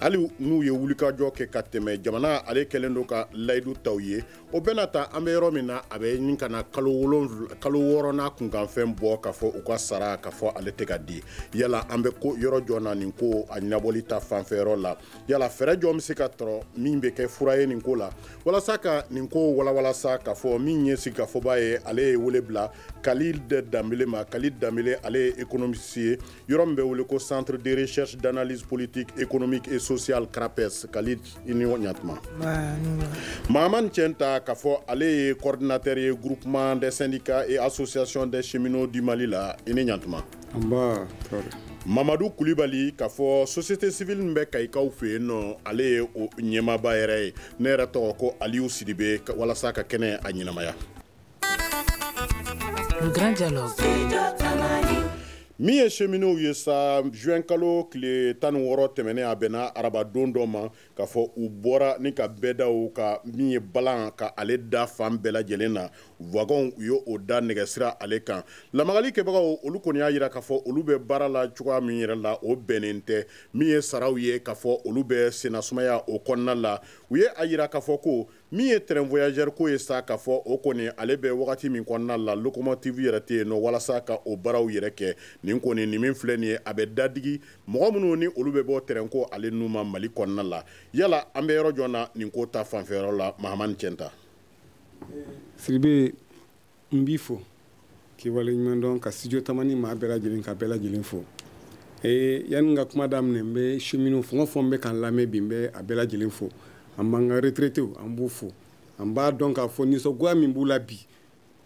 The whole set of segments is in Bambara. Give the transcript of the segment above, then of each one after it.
hali n'u ye wulikajɔ kɛ ka tɛmɛ jamana ale kɛlen don ka layidu ta u ye o bɛɛ n'a ta an bɛ yɔrɔ min na a bɛ ɲini ka na kalo wɔɔrɔ n'a kunkanfɛn bɔ k'a fɔ u ka sara k'a fɔ ale tɛ ka di yala an bɛ ko yɔrɔ jɔn na nin ko a ɲɛnabɔli ta fanfɛ yɔrɔ la yala fɛɛrɛ jɔn bɛ se ka tɔrɔ min bɛ kɛ fura ye nin ko la walasa ka nin ko walawala sa k'a fɔ min ye sigikafɔba ye ale ye wele bila kalid danbele ma kalid danbele ale ye ekonomisi ye yɔrɔ min bɛ wele ko centre de recherche d'analyse politique économique et sociale crapes kalid i ni ɲatuma mahaman cɛnta k'a fɔ ale ye coordinateur ye groupement des syndicats et associations des cheminots du mali la i ni ɲatuma mamadu kulibali k'a fɔ société civile min bɛ kayikaw fɛ yen nɔ ale ye o ɲɛmaaba yɛrɛ ye ne yɛrɛ tɔgɔ ko aliyu sidibe walasa ka kɛnɛ a ɲɛnamaya Le grand dialogue. min ye cheminotw ye sa juin kalo tile tan ni wɔɔrɔ tɛmɛnen a bɛnna arabadon dɔ ma k'a fɔ u bɔra ni ka bɛɛ da u ka min ye balan ka ale da fan bɛɛ lajɛlen na wagɔnw u ye o da nɛgɛsira ale kan lamagali kɛbagaw olu kɔni y'a yira k'a fɔ olu bɛ baara la cogoya min yɛrɛ la o bɛnnen tɛ min ye saraw ye k'a fɔ olu bɛ sennasumaya o kɔnɔna la u ye a yira k'a fɔ ko min ye train voyageur ko ye sa ka fɔ o kɔni ale bɛ wagati min kɔnɔna la locomotive yɛrɛ tɛ yen nɔ walasa ka o baaraw yɛrɛ kɛ nin kɔni nin min filɛ nin ye a bɛ dadigi mɔgɔ minnu ni olu bɛ bɔ train ko ale nun ma mali kɔnɔna la yala an bɛ yɔrɔ jɔn na nin ko ta fanfɛyɔrɔ la mahamani cɛnta sidibe n b'i fo k'i waleɲuman dɔn ka studio tamani maa bɛɛ lajɛlen k'a bɛɛ lajɛlen fo ee yanni n ka kuma daminɛ n bɛ cheminot fɛn o fɛn bɛ k'an lamɛn bi n bɛ a bɛɛ lajɛlen fo an b'an ka retraitew an b'u fo an b'a dɔn k'a fɔ nisɔngoya min b'u la bi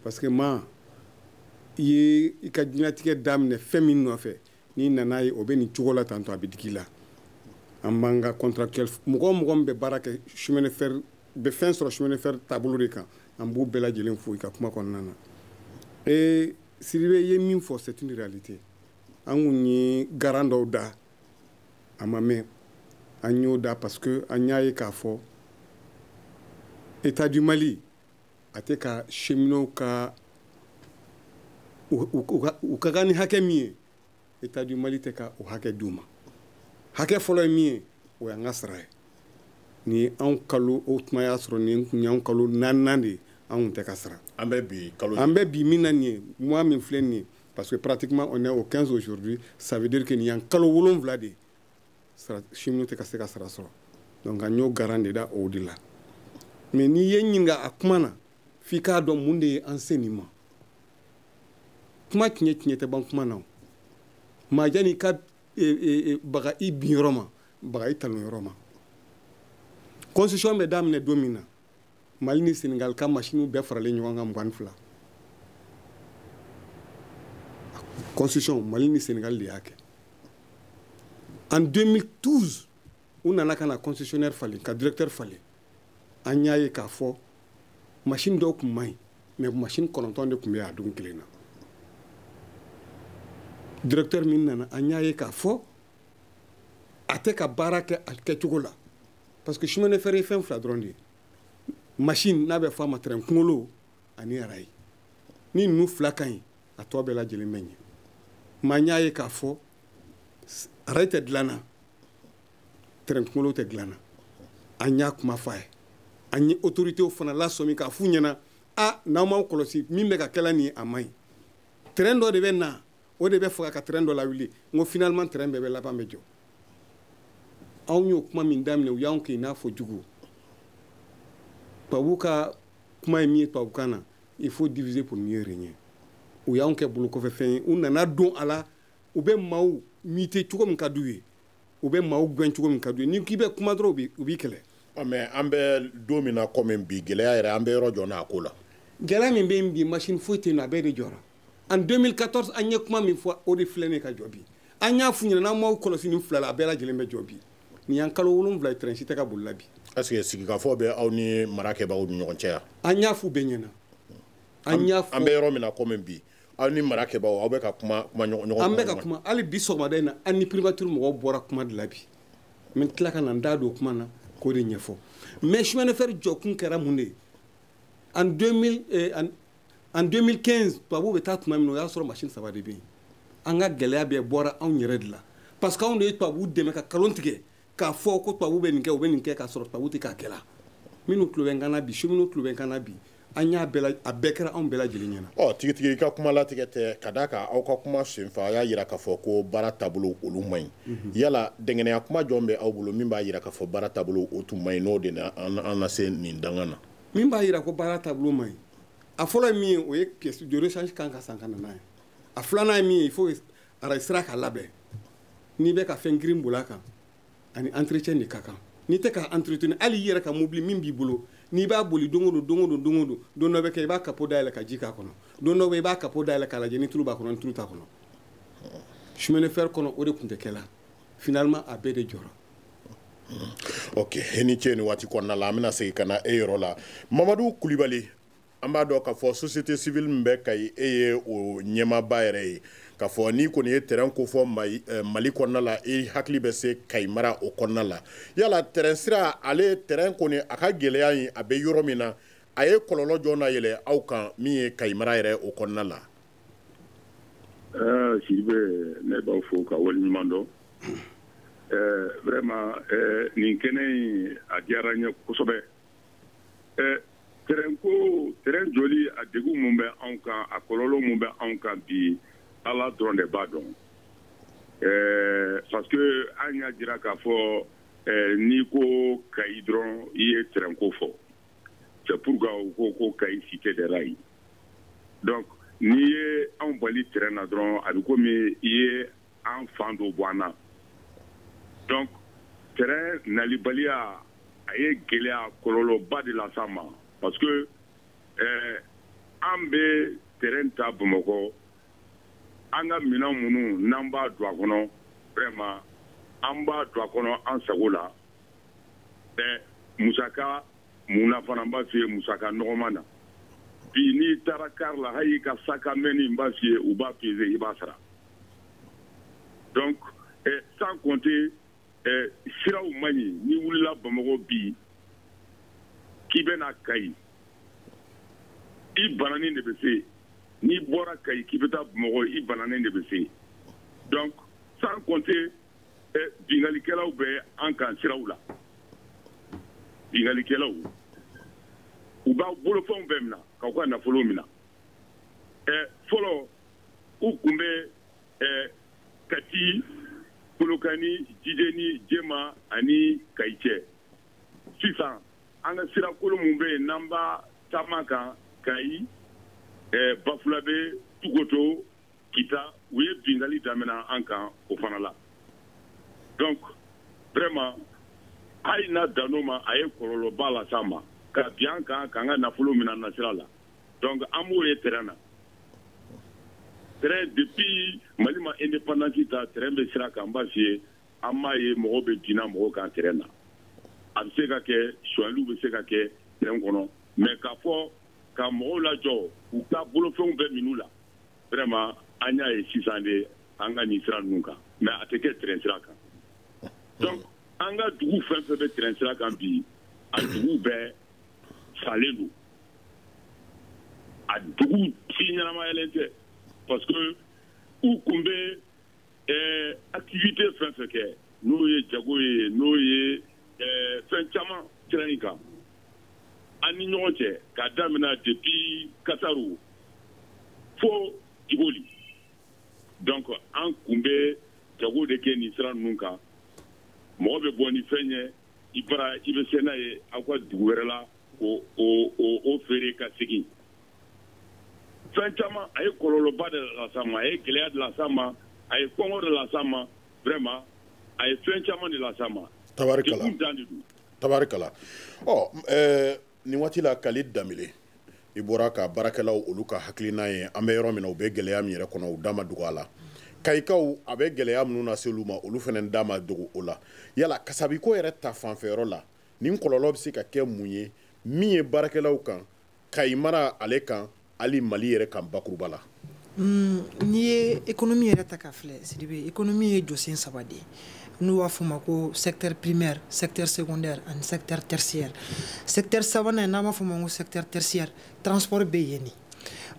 parce que maa i ye i ka diɲɛlatigɛ daminɛ fɛn min nɔfɛ n'i nan'a ye o bɛ nin cogo la tantɔ a bɛ digi i la an b'an ka contractuel mɔgɔ o mɔgɔ min bɛ baara kɛ chemin de fer bɛ fɛn sɔrɔ chemin de fer taabolo de kan an b'u bɛɛ lajɛlen fo i ka kuma kɔnɔna na ee Sidibe i ye min fɔ c'est une réalité an kun ye garan dɔw da a ma mɛn an y'o da parce que an y'a ye k'a fɔ état du Mali a tɛ ka cheminot ka u ka kan ni hakɛ min ye état du mali tɛ ka o hakɛ d'u ma hakɛ fɔlɔ ye min ye o y'an ka sara ye nin y'anw kalo o tuma y'a sɔrɔ nin tun y'anw kalo naaninan de ye anw tun tɛ ka sara an bɛ bi min na nin ye mois min filɛ nin ye parce que pratiquement on est au 15 aujourd'hui ça veut dire que nin y'an kalo wolonwula de ye cheminot tɛ ka se ka sara sɔrɔ donc an y'o garan de da o de la mais n'i ye ɲininka a kuma na f'i k'a dɔn mun de ye an se nin ma kuma tiɲɛ tiɲɛ tɛ ban kuma na o mais janni ka e, e, e, baga i bin yɔrɔ ma baga i talon yɔrɔ ma concession bɛ daminɛ don min na mali ni senegal ka masiniw bɛɛ faralen ɲɔgɔn kan mugan fila concession mali ni senegal de y'a kɛ en 2012 u nana ka na concessionnaire falen ka directeur falen an y'a ye k'a fɔ masini dɔw tun man ɲi mais masini kɔnɔntɔn de tun bɛ a don kelen na directeur min nana an y'a ye k'a fɔ a tɛ ka baara kɛ a kɛcogo la parce que chemin de fer ye fɛn fila dɔrɔn de ye machine n'a bɛ fɔ a ma tɛrɛn kunkolo ani arayi ni ninnu fila ka ɲi a tɔ bɛɛ lajɛlen bɛ ɲɛ mais an y'a ye k'a fɔ arayi tɛ dilanna tɛrɛn kunkolo tɛ dilanna an y'a kuma fɔ a ye an ye autoritew fana lasɔmi k'a f'u ɲɛna a n'aw m'aw kɔlɔsi min bɛ ka kɛla nin ye a man ɲi tɛrɛn dɔ de bɛ na o de bɛ faga ka tɛrɛn dɔ lawuli n ko finalement tɛrɛn bɛɛ bɛ laban bɛ jɔ anw y'o kuma min daminɛ u y'anw kɛ i n'a fɔ jugu tubabu ka kuma ye min ye tubabukan na il faut diviser pour mieux régner u y'anw kɛ bolo kɔfɛ fɛn ye u nana don a la u bɛ maaw muter cogo min ka d'u ye u bɛ maaw gɛn cogo min ka d'u ye n'i k'i bɛ kuma dɔrɔn u b'i kɛlɛ ah, mais an bɛ don min na komi bi gɛlɛya yɛrɛ an bɛ yɔrɔ jɔn n'a ko la gɛlɛya min bɛ yen bi machine foyi tɛ yen nɔ a bɛɛ de jɔra en 2014 an ye kuma min fɔ o de filɛ ne ka jɔ bi an y'a f'u ɲɛna n'aw m'aw kɔlɔsi nin fila la a bɛɛ lajɛlen bɛ jɔ bi nin y'an kalo wolonwula ye tɛrɛn si tɛ ka bolila bi est ce que sigikafɔ bɛ aw ni marakɛbagaw ni ɲɔgɔn cɛ yan an y'a f'u bɛɛ ɲɛna an y'a fɔ an bɛ yɔrɔ min na komi bi aw ni marakɛbagaw aw bɛ ka kuma kuma ɲɔgɔn an bɛ ka kuma hali bi sɔgɔmada in na an ni primature mɔgɔw bɔra kuma de la bi n bɛ tila ka na n da don kuma na k'o de ɲɛfɔ mais chemin de fer jɔkun kɛra mun de ye en 2000 eh, en 2015 tubabuw bɛ taa tuma min na o y'a sɔrɔ machine saba de bɛ yen an ka gɛlɛya bɛɛ bɔra anw yɛrɛ de la parce que anw de ye tubabuw dɛmɛ ka kalon tigɛ k'a fɔ ko tubabuw bɛ nin kɛ u bɛ nin kɛ k'a sɔrɔ tubabuw tɛ k'a kɛla minnu tulo bɛ n kan na bi cheminot tulo bɛ n kan na bi an y'a bɛɛ a bɛɛ kɛra anw bɛɛ lajɛlen ɲɛna ɔ tigitigi i ka kuma latigɛ tɛ ka d'a kan aw ka kuma senfɛ a y'a yira k'a fɔ ko baara taabolo olu man ɲi mhm. yala dankɛnɛya kuma jɔn bɛ aw bolo min b'a yira k'a fɔ baara taabolo o tun man ɲi n'o de na an na se nin dankan na min b'a yira ko baara taabolo man ɲi a fɔlɔ ye min ye o ye pièce de rechange kan ka san ka na n'a ye a filanan ye min ye il faut arayi sira ka labɛn n'i bɛ ka fɛn girin bol'a kan a ni entretien de ka kan n'i tɛ ka entretenir hali i yɛrɛ ka mobili min b'i bolo n'i b'a boli don o don don o don don o don don dɔ bɛ kɛ i b'a kapo dayɛlɛ ka ji k'a kɔnɔ don dɔ bɛ i b'a kapo dayɛlɛ k'a lajɛ ni tulu b'a kɔnɔ ni tulu t'a kɔnɔ chemin de fer kɔnɔ o de tun tɛ kɛ la finalement a bɛɛ de jɔra ok e ni ce ni waati kɔnɔna la an bɛna segin ka na e yɔrɔ la mamadu kulibali an b'a dɔn k'a fɔ société civile min bɛ kayi e ye o ɲɛmaaba yɛrɛ ye k'a fɔ n'i kɔni ye train ko fɔ eh, mali kɔnɔna la i hakili bɛ se kayi mara o kɔnɔna la yala train sira ale train kɔni a ka gɛlɛya in a bɛ yɔrɔ min na a ye kɔlɔlɔ jɔn nayɛlɛ aw kan min ye kayi mara yɛrɛ o kɔnɔna la Sidibe ne b'aw fo ka waleɲuman dɔn vraiment nin kɛnɛ in a diyara n ye kosɛbɛ train ko train jɔli a degun mun bɛ anw kan a kɔlɔlɔ mun bɛ anw kan bi ala dɔrɔn de b'a dɔn parce que an y'a jira k'a fɔ n'i ko kayi dɔrɔn i ye train ko fɔ c'est pourquoi u ko ko kayi cité des rails donc n'i ye anw bali train na dɔrɔn a bɛ komi i ye an fan dɔ bɔ an na donc train nalibaliya a ye gɛlɛya kɔlɔlɔba de las'an ma parce que eh, an bɛ train ta bamakɔ an ka minɛn minnu n'an b'a don a kɔnɔ vraiment an b'a don a kɔnɔ an sago la eh, musaka mun na fana n b'a f'i ye musaka nɔgɔman na bi n'i taara car la hali i ka sac à main nin n b'a f'i ye u b'a peser i b'a sara donc eh, sans compter eh, siraw man ɲi n'i wulila bamakɔ bi k'i bɛna kayi i bananin de bɛ se n'i bɔra kayi k'i bɛ taa bamakɔ i bananen de bɛ se donc sans compter binkalikɛlaw bɛ an kan siraw la binkalikɛlaw u b'a bolofɛnw bɛɛ minɛ k'aw ka nafolo minɛ fɔlɔ u tun bɛ kati kolokani jijeni jema ani kayi cɛ sisan an ka sira kolo min bɛ yen n'an b'a taama kan kayi bafulabe tugoto kita u ye bingali damina an kan o fana la donc vraiment hali n'a dan'o ma a ye kɔlɔlɔba las'an ma ka bin an kan k'an ka nafolo mina nasira la donc an m'o ye train na train depuis mali ma indépendance ta train bɛ sira kan n b'a f'i ye an m'a ye mɔgɔw bɛ binna mɔgɔw kan train na a bɛ se ka kɛ sonyaliw bɛ se ka kɛ train kɔnɔ mais k'a fɔ ka mɔgɔw lajɔ u ka bolofɛnw bɛɛ min'u la vraiment an y'a ye sisan de an ka nin sira ninnu kan mais a tɛ kɛ train sira kan donc an ka dugu fɛn fɛn bɛ train sira kan bi a dugu bɛɛ salen don a dugu si ɲɛnamayalen tɛ parce que u kun bɛ ɛɛ activité fɛn fɛn kɛ n'o ye jago ye n'o ye ɛɛ fɛn caman sira in kan an ni ɲɔgɔn cɛ k'a daminɛ depuis Kasaru fo Djiboli donc an kun bɛ jago de kɛ nin sira ninnu kan mɔgɔ bɛ bɔ ni fɛn ye i bara i bɛ se n'a ye aw ka dugu wɛrɛ la k'o feere ka segin fɛn caman a ye kɔlɔlɔba de las'an ma a ye gɛlɛya de las'an ma a ye kɔngɔ de las'an ma vraiment a ye fɛn caman de las'an ma tabarikala degun dan de don tabarikala ɔ ɛɛ nin waati la kali danbele i bɔra ka baarakɛlaw olu ka hakilina ye an bɛ yɔrɔ min na u bɛ gɛlɛya min yɛrɛ kɔnɔ u da ma dogo a la kayikaw a bɛ gɛlɛya minnu lase olu ma olu fana da ma dogo o la yala kasabiko yɛrɛ ta fanfɛyɔrɔ la nin kɔlɔlɔ bɛ se ka kɛ mun ye min ye baarakɛlaw kan kayi mara ale kan hali mali yɛrɛ kan bakuruba la mm, n'i ye économie yɛrɛ ta k'a filɛ sidibe économie ye jɔsen saba de ye n'u b'a f'o ma ko secteur primaire secteur secondaire ani secteur tertiaire secteur sabanan n'an b'a f'o ma ko secteur tertiaire transport bɛ yen de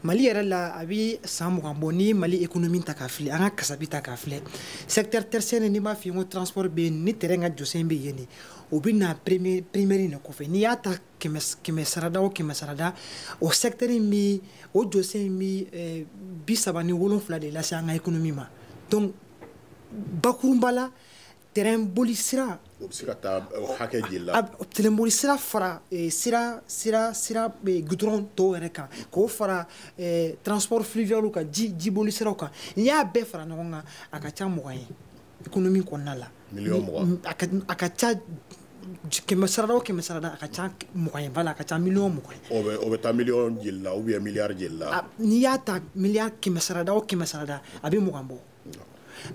mali yɛrɛ la a bɛ san mugan bɔ n'i ye mali économie ta k'a filɛ an ka kasabi ta k'a filɛ secteur tertiaire n'i b'a f'i ye ko transport bɛ yen ni tɛrɛn ka jɔsen bɛ yen de o bɛ na primaire in de kɔfɛ n'i y'a ta kɛmɛ sarada o kɛmɛ sarada o secteur in bɛ o jɔsen in bɛ eh, bi saba ni wolonfila de lase an ka économie ma donc bakurunba la tɛrɛn boli sira o bɛ se ka taa hakɛ jeli la tɛrɛn boli sira fara eh, sira sira sira eh, goudron tɔw yɛrɛ kan k'o fara transport fluvial kan ji boli siraw kan n'i y'a bɛɛ fara ɲɔgɔn kan a ka ca mugan ye économie kɔnɔna la miliyɔn mugan a ka ca kɛmɛ sarada o kɛmɛ sarada a ka ca mugan ye voilà a ka ca miliyɔn mugan ye o bɛ o bɛ taa miliyɔn jeli la ou bien miliyari jeli la n'i y'a ta miliyari kɛmɛ sarada o kɛmɛ sarada a bɛ mugan bɔ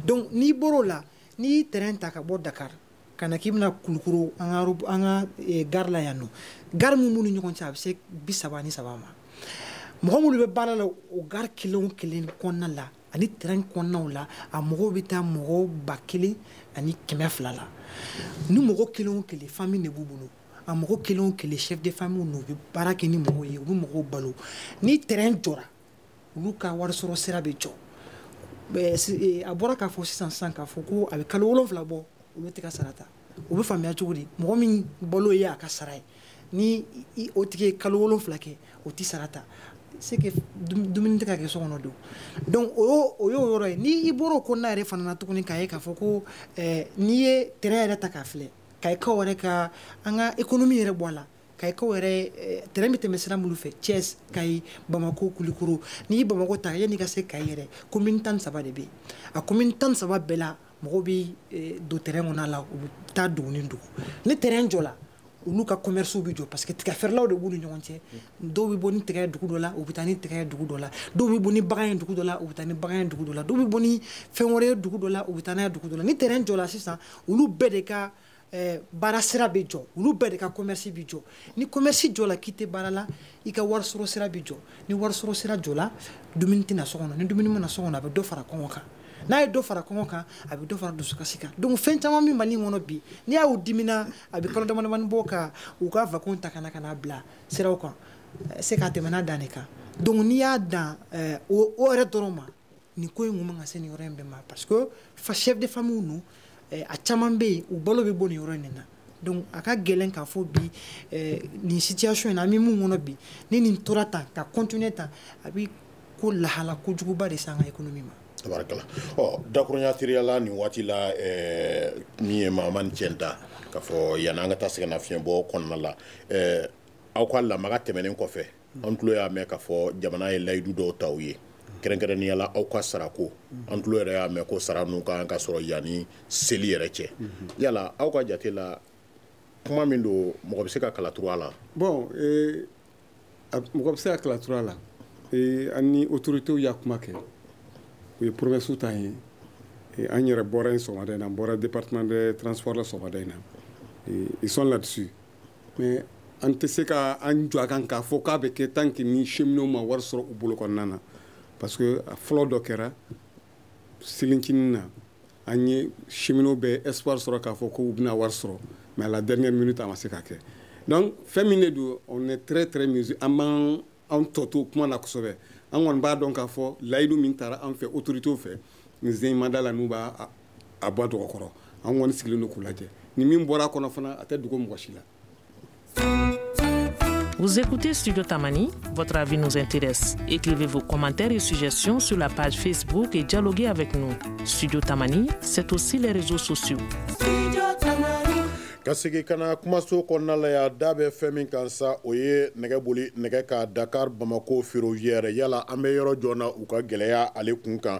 donc n'i bɔr'o la n'i ye tɛrɛn ta ka bɔ dakar ka na k'i bɛna kulukoro an ka an ka eh, gari la yan nɔ gari min b'u ni ɲɔgɔn cɛ a bɛ se bi saba ni saba ma mɔgɔ minnu bɛ baara la o gari kelen o kelen kɔnɔna la ani tɛrɛn kɔnɔnaw la a mɔgɔw bɛ taa mɔgɔ ba kelen ani kɛmɛ fila la ni mɔgɔ kelen o kelen famille de b'u bolo a mɔgɔ kelen o kelen chef de famille n'u bɛ baara kɛ ni mɔgɔw ye u bɛ mɔgɔw balo ni tɛrɛn jɔra olu ka warisɔrɔ sira bɛ jɔ a bɔra k'a fɔ sisan sisan k'a fɔ ko a bɛ kalo wolonfila bɔ olu tɛ ka sara ta o bɛ faamuya cogo di mɔgɔ min balo ye a ka sara ye ni o tigi ye kalo wolonwula kɛ o tɛ sara ta c'est que dumuni tɛ ka kɛ so kɔnɔ don donc o y'o o y'o yɔrɔ ye ni i bɔra o kɔnɔna yɛrɛ fana na tuguni k'a ye k'a fɔ ko eh, n'i ye train yɛrɛ ta k'a filɛ Kayikaw yɛrɛ ka an ka économie yɛrɛ bɔ a la Kayikaw yɛrɛ eh, train bɛ tɛmɛ sira minnu fɛ Thiès Kayi Bamako Kulikoro n'i ye Bamako ta yanni i ka se Kayi yɛrɛ commune tan ni saba de bɛ yen a commune tan ni saba bɛɛ la mɔgɔw bɛ eh, don train kɔnɔna la u bɛ taa dugu ni dugu ni train jɔla olu ka commerce bɛ jɔ parce que tigɛ feerelaw de b'u ni ɲɔgɔn cɛ dɔw bɛ bɔ ni tigɛ ye dugu dɔ la u bɛ taa ni tigɛ ye dugu dɔ la dɔw bɛ bɔ ni bagan ye dugu dɔ la u bɛ taa ni bagan ye dugu dɔ la dɔw bɛ bɔ ni fɛn wɛrɛ ye dugu dɔ la u bɛ taa n'a ye dugu dɔ la ni train jɔla sisan olu bɛɛ de ka eh, baara sira bɛ jɔ olu bɛɛ de ka commerce bɛ jɔ ni commerce jɔla k'i tɛ baara la i ka wari sɔrɔ sira bɛ jɔ ni wari sɔrɔ sira jɔla dumuni tɛ na so kɔnɔ ni dumuni ma na so kɔnɔ a bɛ dɔ fara kɔngɔ kan n'a ye dɔ fara kɔngɔ kan a bɛ dɔ fara dusukasi kan donc fɛn caman min Mali kɔnɔ bi n'i y'u dimina a bɛ kalo damadamani bɔ ka u ka wagon ta ka na ka na bila siraw kan eh, c'est qu'a tɛmɛna dan de kan donc n'i y'a dan eh, o yɛrɛ dɔrɔn ma nin ko in kun man ka se nin yɔrɔ in bɛɛ ma parce que fa chef de famille ninnu eh, a caman bɛ yen u balo bɛ bɔ nin yɔrɔ in de na donc a ka gɛlɛn k'a fɔ bi eh, nin situation in na an bɛ min kɔnɔ bi ni nin tora tan ka continuer tan a bɛ ko lahala kojuguba de se an ka économie ma. tabarikala ɔ dakurunya teriya la nin waati la eh, min ye Mahamane Thienta k'a fɔ yanni an ka taa sɛgɛnnafiɲɛbɔ kɔnɔna la eh, aw ka lamaga tɛmɛnen kɔfɛ an tulo y'a mɛn k'a fɔ jamana ye layidu dɔw ta u ye kɛrɛnkɛrɛnnenya la aw ka sarako an tulo yɛrɛ y'a mɛn ko sara ninnu ka kan ka sɔrɔ yanni seli yɛrɛ cɛ yala aw ka jate la kuma min don mɔgɔ bɛ se ka kalaturu a la bon eh, mɔgɔ bɛ se ka kalaturu a la eh, an ni autoritéw y'a kuma kɛ u ye promessew ta an ye eh, an yɛrɛ bɔra yen sɔgɔmada in na an bɔra département de transport la sɔgɔmada in na ils sont là-dessus mais an tɛ se ka an jɔ a kan k'a fɔ k'a bɛ kɛ tant que ni cheminot ma wari sɔrɔ u bolo kɔnɔna na parce que a fɔlɔ dɔ kɛra selincinin na an ye cheminot bɛ espoir sɔrɔ k'a fɔ ko u bɛna wari sɔrɔ mais à la dernière minute a ma se ka kɛ donc fɛn min de don on est très très mesuré an b'an an tɔ to kuma na kosɛbɛ an kɔni b'a dɔn k'a fɔ layidu min tara an fɛ autorités fɛ nin sɔgɔmada la n'u b'a a bɔ dɔgɔ kɔrɔ an kɔni sigilen don k'u lajɛ ni min bɔra a kɔnɔ fana a tɛ dogo mɔgɔ si la Vous écoutez Studio Tamani, votre avis nous intéresse. Écrivez vos commentaires et suggestions sur la page Facebook et dialoguez avec nous. Studio Tamani, c'est aussi les réseaux sociaux. ka segi ka na kumaso kɔnɔna la ya da bɛ fɛn min kan sa o ye nɛgɛ boli nɛgɛ ka Dakar Bamako ferroviaire yala an bɛ yɔrɔ jɔn na u ka gɛlɛya ale kun kan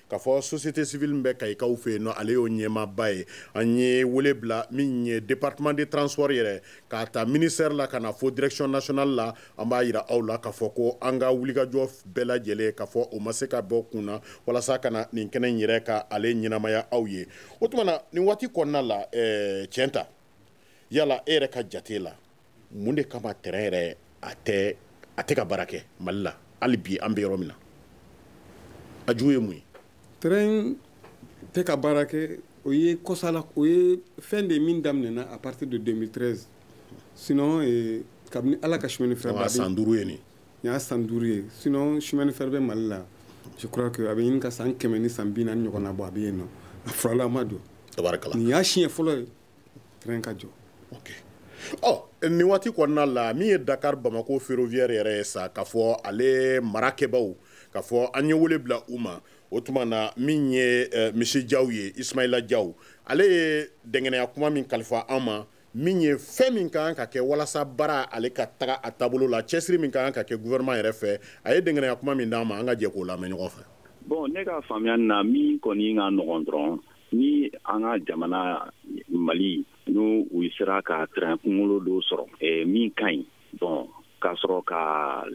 k'a fɔ société civile min bɛ kayikaw fɛ yen nɔ ale y'o ɲɛmaaba ye an ye wele bila min ye département de transport yɛrɛ k'a ta ministère la ka na fo direction nationale la an b'a yira aw la k'a fɔ ko an ka wulikajɔ bɛɛ lajɛlen k'a fɔ o ma se ka bɔ kun na walasa ka na nin kɛnɛ in yɛrɛ ka ale ɲɛnamaya aw ye o tuma na nin waati kɔnɔna la ɛɛ eh, tiɲɛ ta yala e yɛrɛ ka jate la mun de kama tɛrɛn yɛrɛ a tɛ a tɛ ka baara kɛ mali la hali bi an bɛ yɔrɔ min na a ju ye mun ye tɛrɛn tɛ ka baara kɛ o ye kɔsala o ye fɛn de ye min daminɛna à partir de 2013 sinon eh, kabini ala ka chemin de fer da san duuru ye nin nin y'a san duuru ye sinon chemin de fer bɛ mali la je crois que a bɛ ɲini ka san kɛmɛ ni san bi naani ɲɔgɔn na bɔ a bɛ yen nɔ a fura la a ma jɔ nin y'a siɲɛ fɔlɔ ye train ka jɔ ok ɔ oh, nin waati kɔnɔna la min ye dakar bamako ferroviaire yɛrɛ ye sa k'a fɔ ale marakɛbaaw k'a fɔ an ye wele bila u ma o tuma na min ye eh, monsieur jaw ye ismaila jaw ale ye dɛngɛnɛya kuma min kalifa an ma min ye fɛn min ka kan ka kɛ walasa baara ale ka taga a taabolo la cɛsiri min ka kan ka kɛ gouvernement yɛrɛ fɛ a ye dɛngɛnɛya kuma min d'an ma an ka jɛ k'o lamɛn ɲɔgɔn fɛ bon ne ka faamuyani na min kɔni ka nɔgɔn dɔrɔn ni an ka jamana mali ni u sera ka train kungolo dɔ sɔrɔ eh, min ka ɲi bon k'a sɔrɔ ka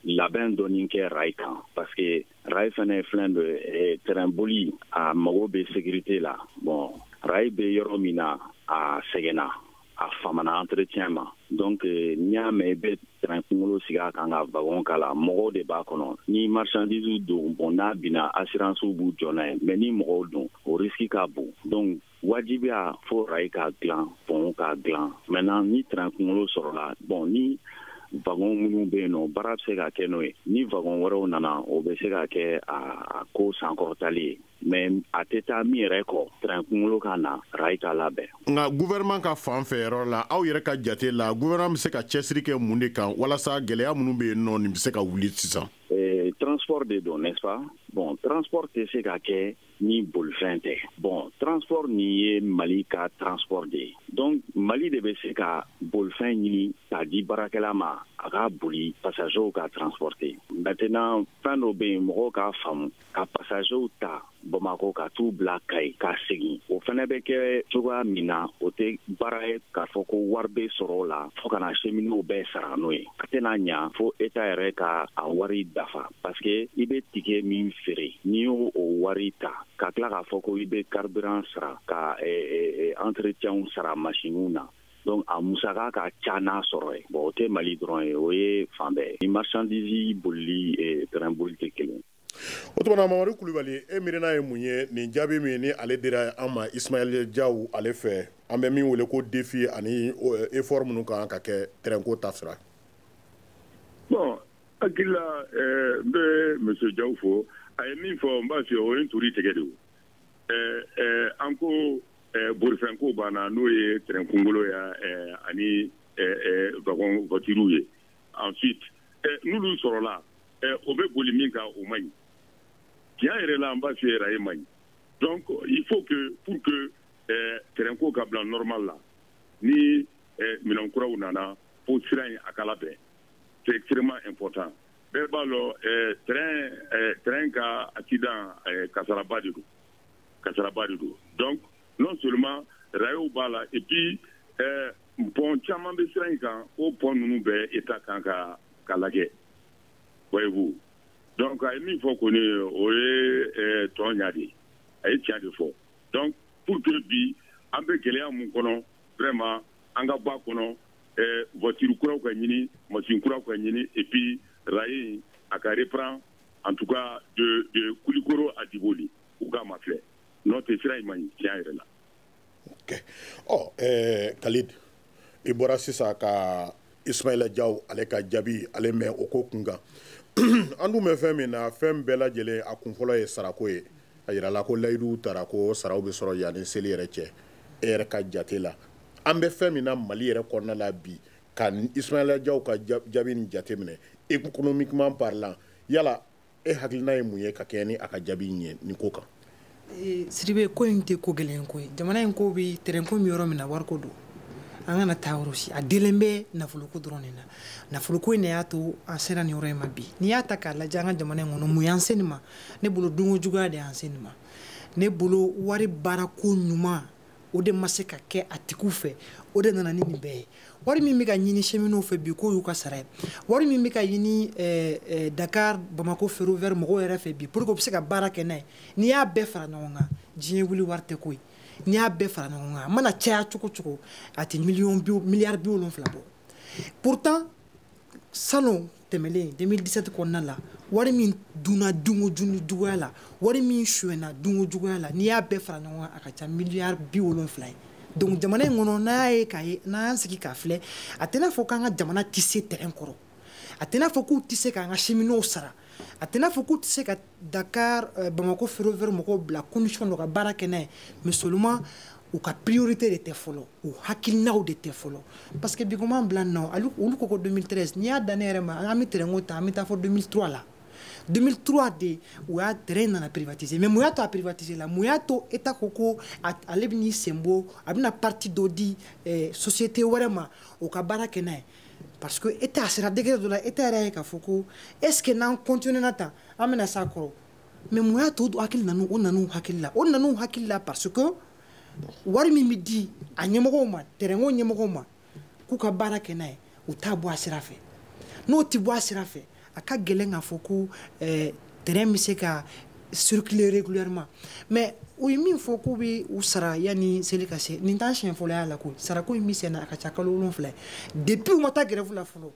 labɛn dɔɔni kɛ rail kan parce que rail fana ye fɛn dɔ ye train boli a mago bɛ sécurité la bon rail bɛ yɔrɔ min na a sɛgɛnna a famana entretien ma donc euh, n'i y'a mɛn i bɛ tɛrɛn kunkolo sigi a kan ka wagon k'a la mɔgɔw de b'a kɔnɔ ni marchandise don bon n'a binna assurance b'u jɔ n'a ye mais ni mɔgɔw don o risque ka bon donc wajibiya fo rayi ka dilan pɔn ka dilan maintenant ni tɛrɛn kunkolo sɔrɔla bon ni wagon minnu bɛ yen nɔ baara bɛ se ka kɛ n'o ye ni wagon wɛrɛw nana o bɛ se ka kɛ a ko sankɔrɔtali ye mais a tɛ taa min yɛrɛ kɔ train kunkolo ka na rayi ka labɛn nka gouvernement ka fan fɛ yɔrɔ la aw yɛrɛ ka jate la gouvernement bɛ se ka cɛsiri kɛ mun de kan walasa gɛlɛya minnu bɛ yen nɔ nin bɛ se ka wuli sisan eh, transport de don n'est-ce pas bon transport tɛ se ka kɛ ni bolifɛn tɛ bon transport nin ye mali ka transport de ye donc mali de bɛ se ka bolifɛn ɲini k'a di baarakɛla ma a k'a boli passagers ka transporter maintenant fɛn dɔ bɛ yen mɔgɔw k'a faamu ka pasazew ta bamakɔ ka t'u bila kayi ka segin o fana bɛ kɛ cogoya min na o tɛ baara ye k'a fɔ ko wari bɛ sɔrɔ o la fo ka na cheminots bɛɛ sara n'o ye a tɛna ɲa fo état yɛrɛ ka a wari dafa paske i bɛ ticket min feere n'i y'o wari ta ka tila k'a fɔ ko i bɛ carburant sara ka entretienw sara masiniw na donc a musaka ka ca n'a sɔrɔ ye bon o tɛ mali dɔrɔn ye o ye fan bɛɛ ye ni marchandise bolili train bolili tɛ kelen o tuma na mamadu kulubali e miirina ye mun ye nin jaabi min ni ale dira an ma ismaila jaw ale fɛ an bɛ min wele ko défi ani effort minnu kan ka kɛ terɛnko ta sira bon hakili la n bɛ monsieur jaw fo a ye min fɔ n b'a f'i ye o ye n turi tigɛ de an ko bolifɛnko banna n'o ye terɛn kungolo ye ani wagon voituriw ye ensuite n'olu sɔrɔla o bɛ boli min kan o man ɲi tiɲɛ yɛrɛ la an b'a f'i ye raye man ɲi donc il faut que pour que train ko ka bila normal la ni minɛn kuraw nana fo sira in a ka labɛn c'est extrêmement important bɛɛ b'a lɔn train train ka accident kasaraba de don kasaraba de don donc non seulement rayew b'a la et puis pont caman bɛ sira in kan o pont ninnu bɛɛ état kan ka lajɛ voyez-vous donc a ye min fɔ kɔni o ye toɲa de ye a ye tiɲɛ de fɔ donc pour que bi an bɛ gɛlɛya mun kɔnɔ vraiment an ka bɔ a kɔnɔ voiture kuraw ka ɲini machine kuraw ka ɲini et puis raye in a ka reprend en tout cas de de kulikoro à diboli u k'a mafilɛ n'o tɛ sira in man ɲi tiɲɛ yɛrɛ la ok kalid i bɔra sisan ka ismaila jaw ale ka jaabi ale mɛn o ko kun kan an dun bɛ fɛn min na fɛn bɛɛ lajɛlen a kun fɔlɔ ye sarako ye a yirala ko layiduw tara ko saraw bɛ sɔrɔ yanni seli yɛrɛ cɛ e yɛrɛ ka jate la an bɛ fɛn min na mali yɛrɛ kɔnɔna la bi ka ismaila jaw ka jaabi nin jate minɛ économiquement parlant yala e hakilina ye mun ye ka kɛɲɛ ni a ka jaabi in ye nin ko kan eh, sidibe ko in tɛ ko gɛlɛn ko ye jamana in ko bi tɛrɛnko bɛ yɔrɔ min na wariko don an kana taa yɔrɔ si a delen bɛ nafoloko dɔrɔn de na nafoloko in de y'a to an sera nin yɔrɔ in ma bi n'i y'a ta k'a lajɛ an ka jamana in kɔnɔ mun y'an se nin ma ne bolo dunko juguya de y'an se nin ma ne bolo wari baarako ɲuman o de ma se ka kɛ a tigiw fɛ o de nana ni nin bɛɛ ye wari min bɛ ka ɲini cheminotw fɛ bi k'o y'u ka sara ye wari min bɛ ka ɲini eh, eh, dakar bamako ferroviaire mɔgɔw yɛrɛ fɛ bi pour que u bɛ se ka baara kɛ n'a ye n'i y'a bɛɛ fara ɲɔgɔn kan diɲɛ wuli wari tɛ ko ye n'i y'a bɛɛ fara ɲɔgɔn kan a mana caya cogo cogo a tɛ miliyɔn miliyari bi wolonwula bɔ pourtant salon tɛmɛlen 2017 kɔnɔna la wari min dunna dunko ju juguya la wari min suɲɛna dunko juguya la n'i y'a bɛɛ fara ɲɔgɔn kan a ka ca miliyari bi wolonfila ye donc jamana in kɔnɔ n'a y'a ye k'a ye n'an y'an sigi k'a filɛ a tɛna fɔ k'an ka jamana tɛ se train kɔrɔ a tɛna fɔ k'u tɛ se k'an ka cheminots sara a tɛna fɔ k'u tɛ se ka Dakar euh, Bamako ferroviaire mɔgɔw bila condition dɔ ka baara kɛ n'a ye mais seulement u ka priorité de tɛ fɔlɔ u hakilinaw de tɛ fɔlɔ parce que bi comme an bila nɔ olu ko ko 2013 n'i y'a dan ne yɛrɛ ma an bɛ train ko ta an bɛ taa fo 2003 la 2003 de u y'a train nana privatiser mais mun y'a to a privatiser la mun y'a to État ko ko ale bɛ n'i sen bɔ a bɛna partie dɔ di eh, société wɛrɛ ma o ka baara kɛ n'a ye parce que État sera degré dɔ la État yɛrɛ ye k'a fɔ ko est ce que n'an continuer na tan an bɛna s'a kɔrɔ mais mun y'a to hakili nan'u o nan'u hakili la o nan'u hakili la parce que wari min bɛ di a ɲɛmɔgɔw ma tɛrɛnko ɲɛmɔgɔw ma k'u ka baara kɛ n'a ye u t'a bɔ a sira fɛ n'o tɛ bɔ a sira fɛ a ka gɛlɛn k'a fɔ ko eh, train bɛ se ka circuler régulièrement mais u ye min fɔ k'u bɛ u sara yanni seli ka se nin t'a siɲɛ fɔlɔ y'a la koyi sarako in bɛ senna a ka ca kalo wolonwula depuis u ma taa grève la fɔlɔ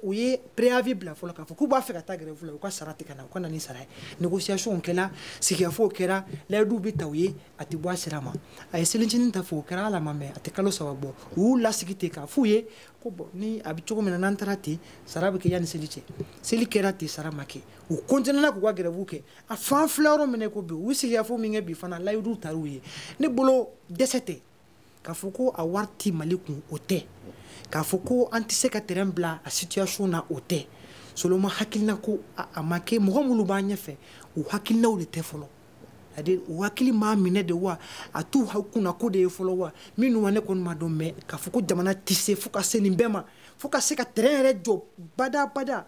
u ye préavis bila fɔlɔ k'a fɔ k'u b'a fɛ ka taa grève la u ka sara tɛ ka na u ka na ni sara ye négociation kɛra sigikafɔw kɛra layiduw bɛ ta u ye a tɛ bɔ a sira ma a ye selincinin ta fɔ o kɛra ala ma mɛn a tɛ kalo saba bɔ u y'u lasigi ten k'a f'u ye ko bɔn ni a bɛ cogo min na n'an taara ten sara bɛ kɛ yanni seli cɛ seli kɛra ten sara ma kɛ u kɔntinɛna k'u ka grève kɛ a f'an filɛ yɔrɔ min n'i ko bi u ye sigikafɔ min kɛ bi fana layiduw tar'u ye ne bolo dɛsɛ tɛ k'a fɔ ko a wari ti mali kun o tɛ k'a fɔ ko an tɛ se ka tɛrɛn bila a situation na o tɛ seulement hakilina ko a ma kɛ mɔgɔ minnu b'an ɲɛfɛ u hakilinaw de tɛ fɔlɔ à dire u hakili m'a minɛ de wa a t'u ha kunna ko de ye fɔlɔ wa minnu wa ne kɔni ma dɔn mais k'a fɔ ko jamana tɛ se fo ka se nin bɛɛ ma fo ka se ka tɛrɛn yɛrɛ jɔ bada bada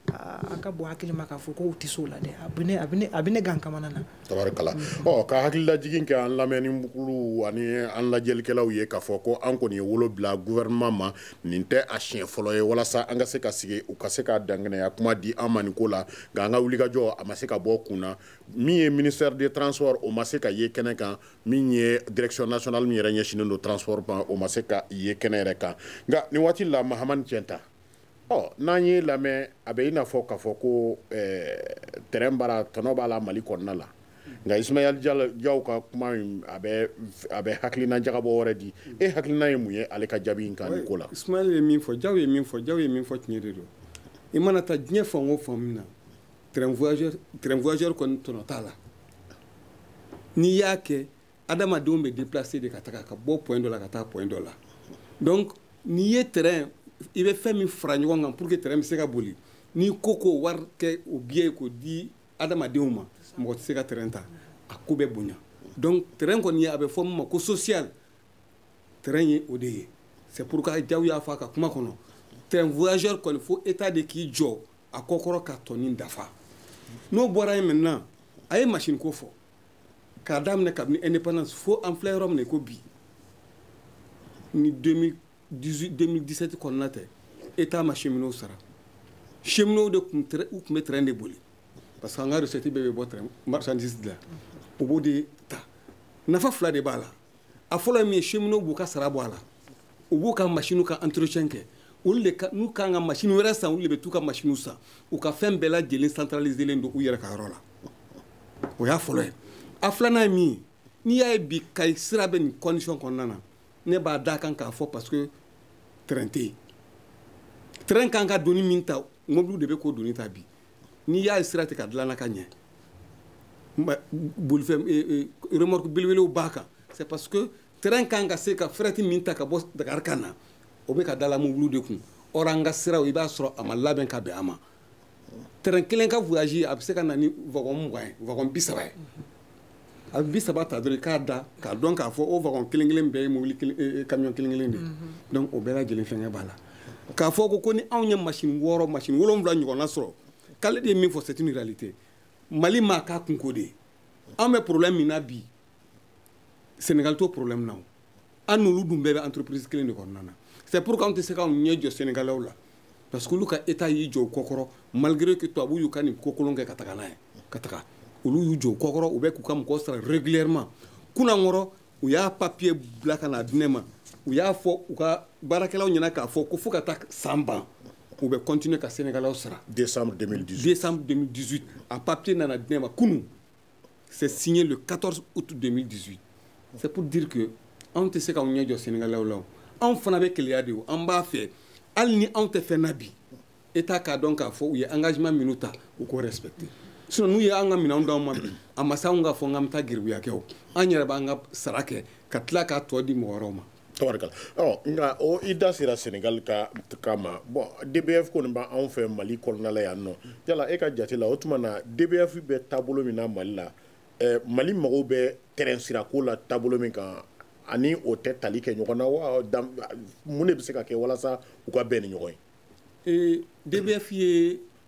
a ka bɔ hakili ma k'a fɔ ko u tɛ se o la dɛ a bɛ ne a bɛ ne a bɛ ne gan kamana na. tabarikala ɔ ka hakililajigin kɛ an lamɛnnikulu ani an lajɛlikɛlaw ye k'a fɔ ko an kɔni ye wele bila gouvernement ma nin tɛ a siɲɛ fɔlɔ ye walasa an ka se ka sigi u ka se ka dankɛnɛya kuma di an ma nin ko la nka an ka wulikajɔ a ma se ka bɔ kun na min ye ministère des transports o ma se ka ye kɛnɛ kan min ye direction nationale min yɛrɛ ɲɛsinnen don transport ma o ma se ka ye kɛnɛ yɛrɛ kan nka nin waati la Mahamane Tienta ɔ n'an y'i lamɛn a bɛ i n'a fɔ k'a fɔ ko eh, train baara tɔnɔ b'a la mali kɔnɔna la nka Ismaël Diaw ka kuma in a bɛ a bɛ hakilina jagabɔ wɛrɛ di e hakilina ye mun ye ale ka jaabi in kan nin ko la Ismaël ye min fɔ Diaw ye min fɔ Diaw ye min fɔ tiɲɛ de don i mana taa diɲɛ fan o fan min na train voyageur kɔni tɔnɔ t'a la n'i y'a kɛ adamadenw bɛ déplacer de ka taga ka bɔ point dɔ la ka taa point dɔ la donc n'i ye train i bɛ fɛn min fara ɲɔgɔn kan pour que train bɛ se ka boli n'i ko k'o wari kɛ o billet k'o di adamadenw ma mɔgɔ tɛ se ka train ta a ko bɛ bonya donc train kɔni ye a bɛ fɔ min ma ko social train ye o de ye c'est pourquoi Diaw y'a fɔ a ka kuma kɔnɔ train voyageur kɔni fo État de k'i jɔ a kɔkɔrɔ ka tɔ nin dafa n'o bɔra yen maintenant a ye machine ko fɔ k'a daminɛ kabini indépendance fo an filɛ yɔrɔ min na ko bi ni 2017 kɔnɔna tɛ état ma cheminots sara cheminots de tun u tun bɛ train de boli parce que an ka recette bɛɛ bɛ bɔ train marchandise de la u b'o de ta nafa fila de b'a la a fɔlɔ ye min ye cheminots b'u ka sara bɔ a la u b'u ka masiniw ka entretien kɛ olu de n'u kan ka masini wɛrɛ san olu de bɛ t'u ka masiniw san u ka fɛn bɛɛ lajɛlen centraliselen don u yɛrɛ ka yɔrɔ la o y'a fɔlɔ ye a filanan ye min ye n'i y'a ye bi kayi sira bɛ nin condition kɔnɔna na ne b'a d'a kan k'a fɔ parce que train tɛ yen train kan ka doni min ta mobiliw de bɛ k'o doni ta bi n'i y'a ye sira tɛ ka dilanna ka ɲɛ bolifɛn e, e, remorque belebelew b'a kan c'est parce que train kan ka se ka fɛrɛti min ta ka bɔ dakari ka na o bɛ ka dala mobulu de kun or an ka siraw i b'a sɔrɔ a ma labɛn ka bɛn a ma train kelen ka voyage a bɛ se ka na ni wagon mugan ye wagon bi saba ye a bi saba ta dɔrɔn k'a da k'a dɔn k'a fɔ o wagon kelen kelen bɛɛ ye mobili kamiyon kelen kelen de donc o bɛɛ lajɛlen fɛngɛ b'a la k'a fɔ ko ko ni anw ye masini wɔɔrɔ masini wolonwula ɲɔgɔnna sɔrɔ kalidi ye min fɔ c'est une réalité mali m'a k'a kunko de ye an bɛ problème min na bi senegal t'o problème na o an n'olu dun bɛɛ bɛ entreprise kelen de kɔnɔna na c'est pourquoi anw tɛ se k'anw ɲɛ jɔ sɛnɛgalɛw la parce que olu ka état y'i jɔ u kɔkɔrɔ malgré que tubabu y'u ka nin ko kolon kɛ ka taga n'a ye ka taga olu y'u jɔ u kɔkɔrɔ u bɛ k'u ka mɔgɔw sara régulièrement kunankɔrɔ u y'a papier bila ka na di ne ma u y'a fɔ u ka baarakɛlaw ɲɛna k'a fɔ ko fo ka taa san ban u bɛ continuer ka sɛnɛgalɛw sara décembre 2018 décembre 2018 a papier nana di ne ma kunu c'est signé le 14 août 2018 c'est pour dire que anw tɛ se k'anw ɲɛ jɔ sɛnɛgalɛw la o anw fana bɛ keleya de o an b'a fɛ hali ni anw tɛ fɛn na bi état k'a dɔn k'a fɔ u ye engagement minnu ta u k'o respecter sinon n'u ye an ka minɛnw d'anw ma bi a ma se anw k'a fɔ n k'an bɛ taa geribuya kɛ o an yɛrɛ b'an ka sara kɛ ka tila k'a tɔ di mɔgɔ wɛrɛw ma tabarikala ɔ nka o i da sera senegal ka cas ma bon dbf kɔni bɛ anw fɛ mali kɔnɔna la yan nɔ yala e ka jate la o tuma na dbf bɛ taabolo min na mali la eh, mali mɔgɔw bɛ terɛn sirako la taabolo min kan ani o tɛ tali kɛ ɲɔgɔn na wa mun de bɛ se ka kɛ walasa u ka bɛn ni ɲɔgɔn ye dbf ye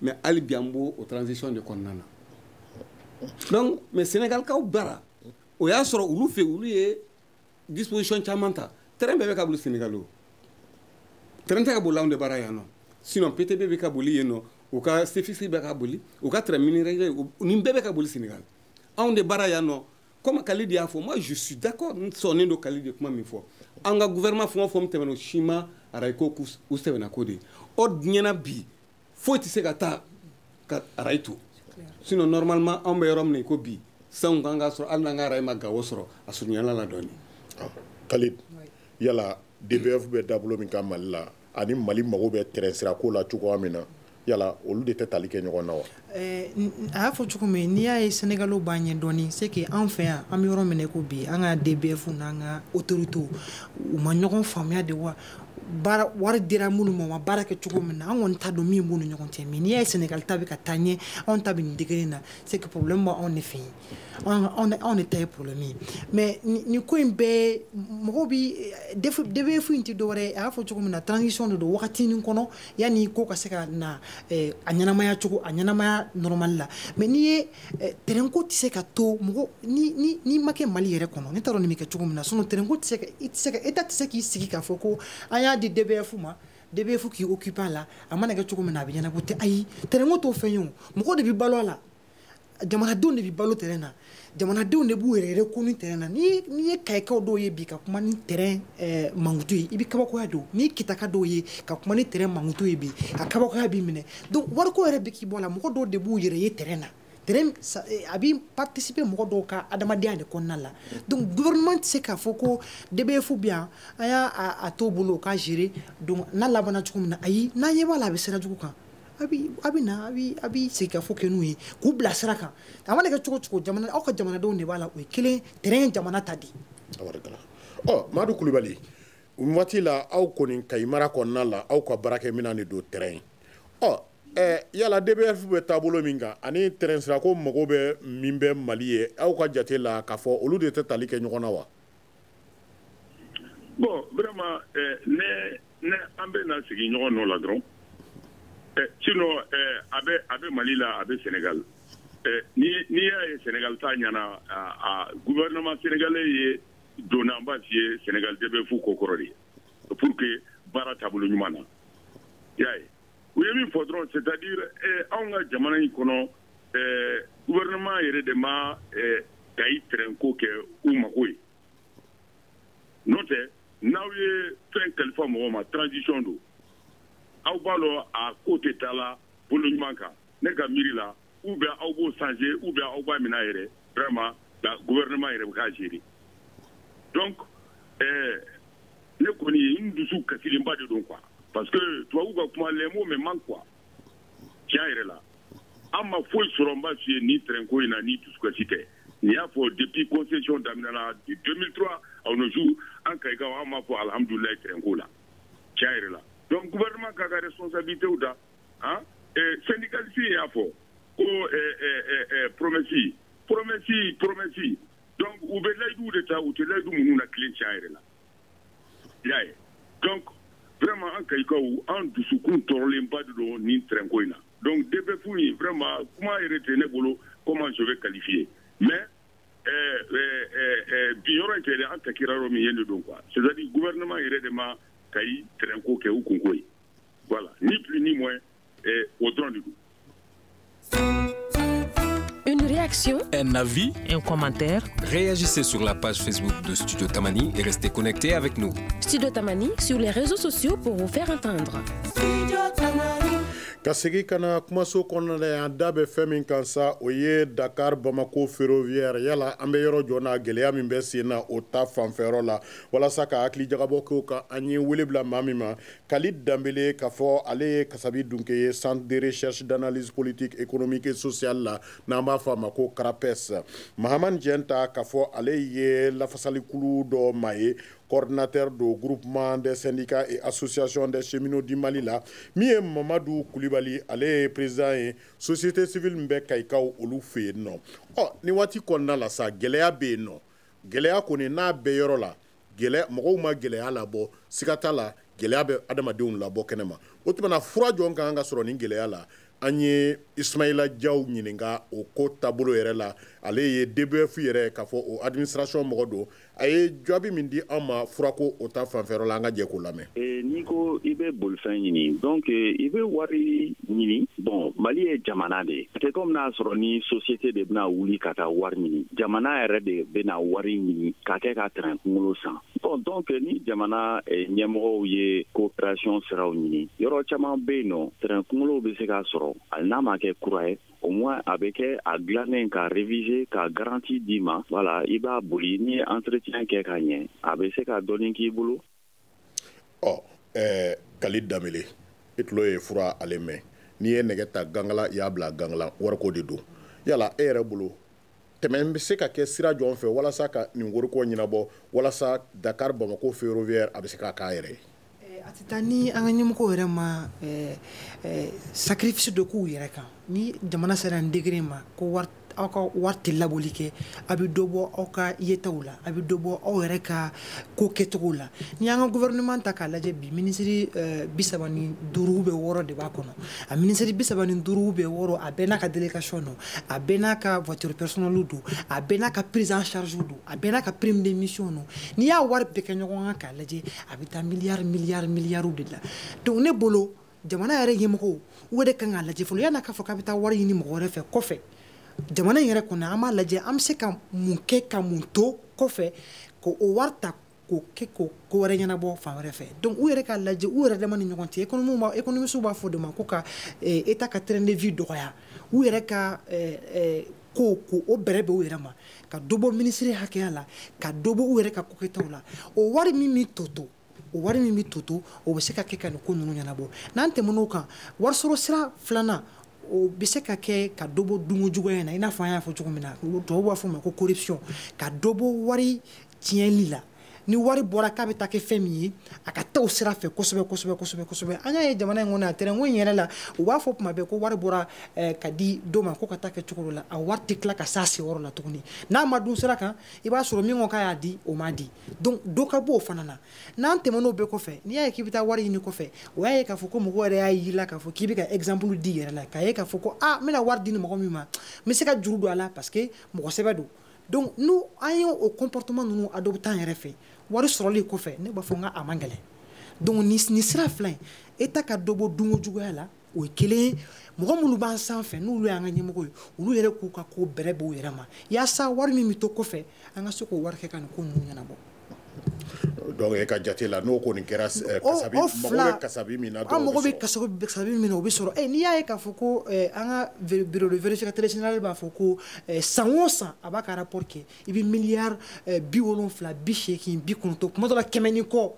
mais hali bi an b'o o transition de kɔnɔna na donc mais senegalikaw bara o y'a sɔrɔ olu fɛ olu ye disposition caman ta train bɛɛ bɛ ka boli senegal o train tɛ ka boli anw de bara yan nɔ sinon ptb bɛ ka boli yen nɔ u ka cfc bɛ ka boli u ka train minerais nin bɛɛ bɛ ka boli senegal anw de bara yan nɔ comme kalidi y'a fɔ moi je suis d'accord n sɔnnen don kalidi ye kuma min fɔ an ka gouvernement fɛn o fɛn min tɛmɛna o si ma arayiko u sɛbɛnna ko de ye ɔ diɲɛ na bi foyi tɛ se ka taa ka arayi to sinon normalement anw bɛ yɔrɔ min na i ko bi sanw kan ka sɔrɔ hali n'an ka arayi ma gawo sɔrɔ a surunyala a la dɔɔni ah, kalid yala dbf bɛ taabolo min kan mali la ani mali mago bɛ train sira ko la cogoya min na yala olu de tɛ tali kɛ ɲɔgɔn na wa eh, a y'a fɔ cogo min na n'i y'a ye sɛnɛgali b'an ɲɛ dɔɔni c'est que an fɛ yan an bɛ yɔrɔ min na i ko bi an ka dbf n'an ka autoritew u ma ɲɔgɔn faamuya de wa baara wari dira minnu ma u ma baara kɛ cogo min na an kɔni t'a dɔn min b'u ni ɲɔgɔn cɛ mais n'i y'a ye sɛnɛgali ta bɛ ka taa ɲɛ anw ta bɛ nin degré na c'est que problème b'anw de fɛ yen anw de ta ye problème ye mais nin ko in bɛɛ mɔgɔw bi dbf in tɛ dɔwɛrɛ ye a y'a fɔ cogo min na transition de don wagatinin kɔnɔ yanni ko ka se ka na a ɲɛnamaya cogo a ɲɛnamaya normal la mais n'i ye Eh, tɛrɛnko tɛ se ka to mɔgɔ n'i ma kɛ mali yɛrɛ kɔnɔ ne t'a dɔn nin bɛ kɛ cogo min na sinon tɛrɛnko tɛ se ka i tɛ se ka état tɛ se k'i sigi k'a fɔ ko an y'a di dbf ma dbf k'i occuper a la a mana kɛ cogo min na a bɛ ɲɛnabɔ ten ayi tɛrɛnko t'o fɛn ye o mɔgɔ de bɛ balo a la jamanadenw de bɛ balo tɛrɛn na jamanadenw de b'u yɛrɛ reconnu tɛrɛn na n'i ye kayikaw dɔw ye bi ka kuma ni tɛrɛn eh, mankutu ye i bɛ kabakoya don n'i ye kitaka dɔw ye ka kuma ni tɛrɛn mankutu ye bi a kabakoya b'i minɛ donc wariko yɛrɛ bɛ k'i bɔ a la mɔgɔ dɔw de b'u yɛrɛ ye train na train eh, a bɛ participer mɔgɔ dɔw ka adamadenya de kɔnɔna la donc gouvernement tɛ se k'a fɔ ko DBF bɛ yan an y'a t'o bolo o k'a gérer donc n'a labanna cogo min na ayi n'an ɲɛ b'a la a bɛ sira jugu kan a bɛ a bɛ na a bɛ a bɛ segin ka fɔ kɛ n'u ye k'u bila sira kan a mana kɛ cogo o cogo jamana aw ka jamanadenw de b'a la o ye kelen train ye jamana ta de ye. ɔ Madu Kulubali. waati la aw kɔni kayi mara kɔnɔna la aw ka baarakɛminɛn de don train ɔ ɛɛ yala DBF bɛ taabolo min kan ani train sirako mago bɛ min bɛ Mali ye aw ka jate la k'a fɔ olu de tɛ tali kɛ ɲɔgɔn na wa. bon vraiment ɛɛ ne ne an bɛ na sigi ɲɔgɔn nɔ la dɔrɔn ɛɛ sinon ɛɛ a bɛ a bɛ Mali la a bɛ Sénégal ɛɛ ni n'i y'a ye Sénégal ta ɲɛna a a gouvernement sénégalais ye. donna n b'a f'i ye sénégal dbf ko kɔrɔ de ye pour que baara taabolo ɲuman na y'a ye u ye min fɔ dɔrɔn c'est à dire eh, anw ka jamana in kɔnɔ eh, gouvernement yɛrɛ de ma eh, kayi tɛrɛnko kɛ u mago ye n'o tɛ n'aw ye fɛn kalifa mɔgɔ ma transition don aw b'a dɔn a ko tɛ taa la bolo ɲuman kan ne ka miiri la ou bien aw b'o changer ou bien aw b'a mina yɛrɛ vraiment la gouvernement yɛrɛ bɛ k'a gérer donc ɛɛ ne kɔni ye n dusu kasilenba de don quoi parce que tubabu ka kuma les mots me manquent quoi tiɲɛ yɛrɛ la an ma foyi sɔrɔ n b'a f'i ye ni train ko in na ni dusukasi tɛ n'i y'a fɔ depuis concession daminɛna 2003 à nos jours an kayikaw an m'a fɔ alhamdulilayi train ko la tiɲɛ yɛrɛ la donc gouvernement k'a ka responsabilité ta han eh, syndicaliste y'a fɔ ko eh, eh, eh, promesse promesse promesse donc u bɛ layiduw de ta u tɛ layidu ninnu latilen tiɲɛ yɛrɛ la y'a ye donc vraiment an kayikaw an dusukun tɔɔrɔlenba de don nin trɛnko in na donc dbf in vraiment kuma yɛrɛ tɛ ne bolo comment je vais qualifier mais eh, eh, eh, bi yɔrɔ in tɛ dɛ an takira yɔrɔ min ye de don quoi c'est à dire gouvernement yɛrɛ de ma kayi trɛnko kɛ u kunko ye Voilà, ni plus ni moins, o dɔrɔn don quoi. Une réaction, un avis, un commentaire. Réagissez sur la page Facebook de Studio Tamani et restez connectés avec nous. Studio Tamani sur les réseaux sociaux pour vous faire entendre. Studio Tamani. ka segi ka na kumaso kɔnɔna la yan da bɛ fɛn min kan sa o ye dakar bamako ferroviaire yala an bɛ yɔrɔ jɔn na gɛlɛya min bɛ sen na o ta fanfɛyɔrɔ la walasa ka hakili jagabɔ k'o kan an ye wele bila maa min ma Khalid Danbele k'a fɔ ale ye kasabi dunke ye centre de recherche d'analyse politique économique et sociale la n'an b'a fɔ a ma ko CRAPES Mahamani Jɛnta k'a fɔ ale ye lafasalikulu dɔ maa ye coordinateur do groupement des syndicats et associations des cheminots du Mali la min ye Mamadu Kulibali ale ye président ye société civile min bɛ Kayikaw olu fɛ yen nɔ ɔ nin waati kɔnɔna la sa gɛlɛya bɛ yen nɔ gɛlɛya kɔni n'a bɛ yɔrɔ la gɛlɛya mɔgɔw ma gɛlɛya labɔ siga t'a la gɛlɛya bɛ adamadenw labɔ kɛnɛ ma o tuma na fura jɔn ka kan ka sɔrɔ nin gɛlɛya la an ye ismaila jaw ɲininka o ko taabolo yɛrɛ la ale ye dbf yɛrɛ k'a fɔ o administration mɔgɔ don a ye jaabi min di an ma furako o ta fanfɛyɔrɔ la an ka jɛ k'o lamɛn Eh, n'i ko i bɛ bolifɛn ɲini donc eh, i bɛ wari ɲini bon mali ye jamana de ye a tɛ comme n'a sɔrɔ ni société de bɛna wuli ka taa wari ɲini jamana yɛrɛ de bɛna wari ɲini ka kɛ ka trɛn kunkolo san bon donc eh, ni jamana ɲɛmɔgɔw ye coopération siraw ɲini yɔrɔ caman bɛ yen nɔ trɛn kunkolow bɛ se ka sɔrɔ hali n'a ma kɛ kura ye au moins a bɛ kɛ a dilannen ka réviser ka garantie d'i ma voilà i b'a boli ni entretien kɛ ka ɲɛ a bɛ se ka dɔɔni k'i bolo ɔ ɛɛ khalid danbele i tulo ye fura ale mɛn n'i ye nɛgɛ ta gangala i y'a bila gangala wariko de don yala e yɛrɛ bolo tɛmɛn bɛ se ka kɛ sira jɔn fɛ walasa ka nin wariko ɲɛnabɔ walasa dakar bamako ferroviaire a bɛ se k'a k'a yɛrɛ ye eh, a tɛ taa ni an ka ɲɛmɔgɔw yɛrɛ ma eh, eh, sacrifice dɔ k'u yɛrɛ kan ni jamana sera nin degré ma ko wari aw ka wari tɛ laboli kɛ a bɛ dɔ bɔ aw ka yetaw la a bɛ dɔ bɔ aw yɛrɛ ka ko kɛcogo la n'i y'an ka gouvernement ta k'a lajɛ bi minisiri eh, bi saba ni duuru bɛ wɔɔrɔ de b'a kɔnɔ a minisiri bi saba ni duuru bɛ wɔɔrɔ a bɛɛ n'a ka délégation don a bɛɛ n'a ka voiture personnelle don a bɛɛ n'a ka prise en charge don a bɛɛ n'a ka prime de mission don n'i y'a wari bɛɛ kɛ ɲɔgɔn kan k'a lajɛ a bɛ taa miliyari miliyari miliyariw de la donc ne bolo jamana yɛrɛ ɲɛmɔgɔw o de kan k'a lajɛ fɔlɔ yan'a k'a fɔ k'a bɛ taa wari ɲini mɔgɔ wɛrɛ fɛ kɔfɛ jamana in yɛrɛ kɔnɔ an b'a lajɛ an bɛ se ka mun kɛ ka mun to kɔfɛ k'o wari ta k'o kɛ ko ko wɛrɛ ɲɛnabɔ fan wɛrɛ fɛ donc u yɛrɛ k'a lajɛ u yɛrɛ dama ni ɲɔgɔn cɛ économistes b'a économistes b'a fɔ de ma ko ka état eh, ka train de vie dɔgɔya u yɛrɛ ka eh, eh, ko kow bɛrɛbɛn u yɛrɛ ma ka dɔ bɔ minisiri hakɛya la ka dɔ bɔ u yɛrɛ ka kokɛtaw la o wari min bɛ to to o wari min bɛ toto o bɛ se ka kɛ ka nin ko ninnu ɲɛnabɔ n'an tɛmɛn'o kan warisɔrɔ sira filanan o bɛ se ka kɛ ka dɔ bɔ dunko juguya in na i n'a fɔ an y'a fɔ cogo min na tubabuw b'a fɔ o ma ko corruption ka dɔ bɔ wari tiɲɛli la ni wari bɔra k'a bɛ taa kɛ fɛn min ye a ka taa o sira fɛ kosɛbɛ kosɛbɛ kosɛbɛ kosɛbɛ an y'a ye jamana in kɔnɔ a tɛrɛnko in yɛrɛ la u b'a fɔ tuma bɛɛ ko wari bɔra eh, ka di dɔ ma ko ka taa kɛ cogo dɔ la a wari tɛ tila ka s'a seyɔrɔ la tuguni n'a ma dun sira kan i b'a sɔrɔ min ko k'a y'a di o ma di donc dɔ ka b'o fana na n'an tɛmɛn'o bɛɛ kɔfɛ n'i y'a ye k'i bɛ taa wari ɲini kɔfɛ o y'a ye k'a fɔ ko mɔgɔ yɛrɛ y'a y'i la k'a fɔ k'i bɛ ka exemple d'i yɛrɛ la k'a ye k'a fɔ ko a n bɛna wari di nin mɔgɔ min ma n bɛ se ka juru don a la parce que mɔgɔ sɛbɛ don donc ni an ye o comportement ninnu adopté an yɛrɛ fɛ wari sɔrɔli kɔfɛ ne b'a fɔ n ka a man gɛlɛn donc nin sira fila in état ka dɔ bɔ dunko juguya la o ye kelen ye mɔgɔ minnu b'an sanfɛ n'olu y'an ka ɲɛmɔgɔ ye olu yɛrɛ k'u ka ko bɛrɛbɛn u yɛrɛ ma yaasa wari min bɛ to kɔfɛ an ka se k'o wari kɛ ka nin ko ninnu ɲɛnabɔ donc e ka jate la n'o kɔni kɛra eh, kasabi mago bɛ kasabi min na an mago bɛ kasabi min na o bɛ sɔrɔ eh, n'i y'a ye k'a fɔ ko eh, an ka bureau de vérificateur général b'a fɔ ko san o san a b'a ka rapport kɛ i bɛ miliyari bi wolonfila bi seegin bi kɔnɔntɔn kuma dɔ la kɛmɛ ni kɔ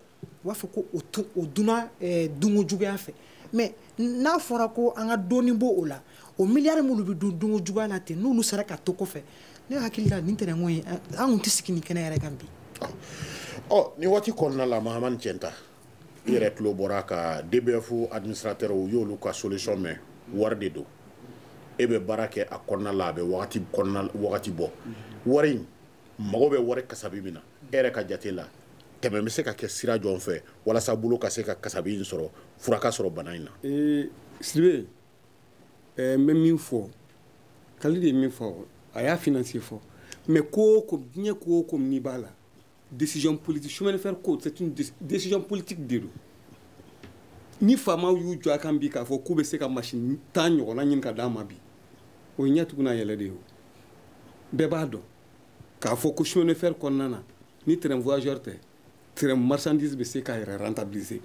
u b'a fɔ ko o to o dunna eh, dunko juguya fɛ mais n'a fɔra ko an ka dɔɔni bɔ o la o miliyari minnu bɛ dun dunko juguya la ten n'olu sera ka to kɔfɛ ne hakili la nin tɛrɛnko ye an kun tɛ sigi nin kɛnɛ yɛrɛ kan bi. ɔ oh, nin waati kɔnɔna la mahamani cɛnta i yɛrɛ tulo bɔra ka dbf administrateur i y'olu ka solution mɛn wari de don e bɛ baara kɛ a kɔnɔna la a bɛ wagati kɔnɔna wagati bɔ wari in mago bɛ wari kasabi min na e yɛrɛ ka jate la tɛmɛ bɛ se ka kɛ sira jɔn fɛ walasa bolo ka se ka kasabi in sɔrɔ fura ka sɔrɔ bana in na ee, sidibe ɛɛ n bɛ min fɔ kalidi ye min fɔ a y'a finance fɔ mais ko o ko diɲɛ ko o ko n'i b'a la décision politique chemin de fer ko c'est une décision politique de don ni faamaw y'u jɔ a kan bi k'a fɔ k'u bɛ se ka masini tan ɲɔgɔnna ɲini ka d'a ma bi o ye ɲɛ tugu n'a yɛlɛ de ye o bɛɛ b'a dɔn k'a fɔ ko chemin de fer kɔnɔna na ni train voyageur tɛ train marchandise bɛ se k'a yɛrɛ rentabiliser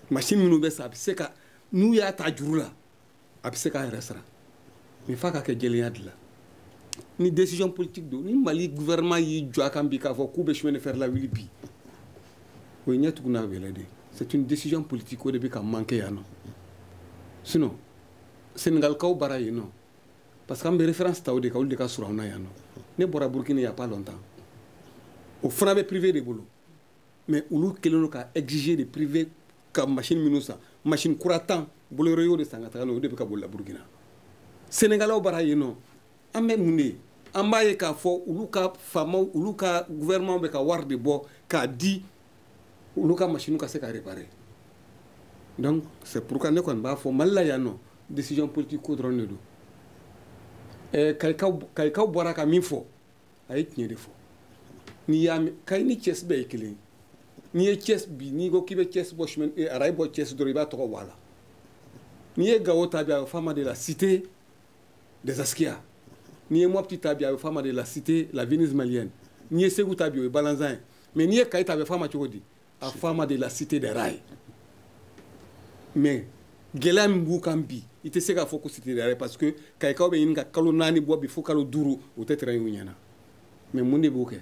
machine minnu bɛ san a bɛ se ka n'u y'a ta juru la a bɛ se k'a yɛrɛ sara mais f'a ka kɛ jɛlenya de la ni décision politique don ni mali gouvernement y'i jɔ a kan bi k'a fɔ k'u bɛ chemin de fer lawuli bi o ye ɲɛ tugun n'a yɛlɛ de c'est une décision politique o de bɛ ka manquer yan nɔ sinon senegalikaw bara yen nɔ parce que an bɛ référence ta o de kan olu de ka surun an na yan nɔ ne bɔra burkina y a pas longtemps o fana bɛ privé de bolo mais olu kɛlen don ka exiger de privé ka machine minnu san machine kura tan bolloré y'o de san ka taga n'o ye o de bɛ ka bolila burkina sénégalaw bara yen nɔ an bɛ mun de ye an b'a ye k'a fɔ olu ka faamaw olu ka gouvernement bɛ ka wari de bɔ k'a di olu ka machine ka se ka réparer donc c'est pourquoi ne kɔni b'a fɔ mali la yan nɔ décision politique ko dɔrɔn de don ɛɛ kayikaw kayikaw bɔra ka min fɔ a ye tiɲɛ de fɔ n'i y'a mɛn kayi ni cɛsi bɛɛ ye kelen ye n'i ye cɛsi bi n'i ko k'i bɛ cɛsi bɔ chemin ee arayi bɔ cɛsi dɔrɔn i b'a tɔgɔ bɔ a la n'i ye gawo ta bi a bɛ f'a ma de la cité des askiya n'i ye mɔpiti ta bi a bɛ f'a ma de la cité la venise malienne n'i ye segu ta bi o ye balanzan ye mais n'i ye kayi ta a bɛ fɔ a ma cogo di a fɔ a ma de la cité des rails mais gɛlɛya min b'u kan bi i tɛ se k'a fɔ ko cité des rails parce que kayikaw bɛ ɲini ka kalo naani bɔ bi fo kalo duuru u tɛ train y'u ɲɛ na mais mun de b'o kɛ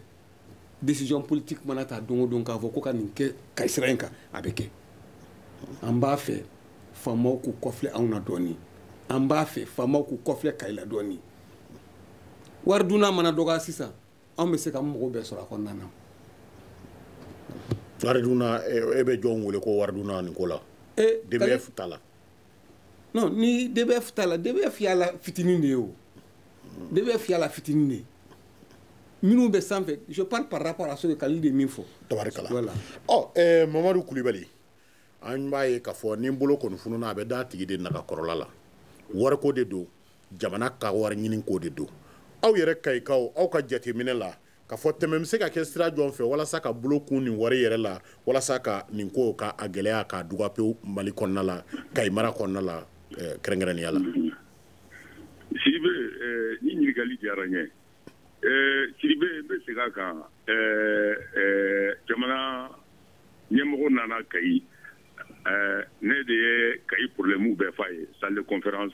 décision politique mana ta don o don k'a fɔ ko ka nin kɛ kayi sira in kan a bɛ kɛ an b'a fɛ faamaw k'u kɔfilɛ anw na dɔɔnin an b'a fɛ faamaw k'u kɔfilɛ kayi la dɔɔnin wari dunna mana dɔgɔya sisan anw bɛ se ka mɔgɔw bɛɛ sɔrɔ a kɔnɔna na wari dunna e bɛ jɔnw wele ko wari dunna nin ko la dbf ta la non ni dbf ta la dbf y'a la fitinin de ye o dbf y'a la fitinin de ye minnu bɛ sanfɛ je parle par rapport à ce que kalili de ye min fɔ tabarikala voilà ɔ eh, mamadu kulibali an b'a ye k'a fɔ ni bolo kɔni fununa a bɛ da a tigi de naga kɔrɔla la wariko de don jamana ka wari ɲini ko de don aw yɛrɛ kayikaw aw ka jateminɛ la k'a fɔ tɛmɛ bɛ se ka kɛ sira jɔn fɛ walasa ka bolo kun nin wari yɛrɛ la walasa ka nin ko ka a gɛlɛya k'a duga pewu mali kɔnɔna la kayi mara kɔnɔna la eh, kɛrɛnkɛrɛnnenya la sidibe eh, ni ɲininkali diyara n ye eh, sidibe n bɛ segin a kan jamana ɲɛmɔgɔ nana kayi ne de ye kayi problème bɛɛ f'a ye salle de conférence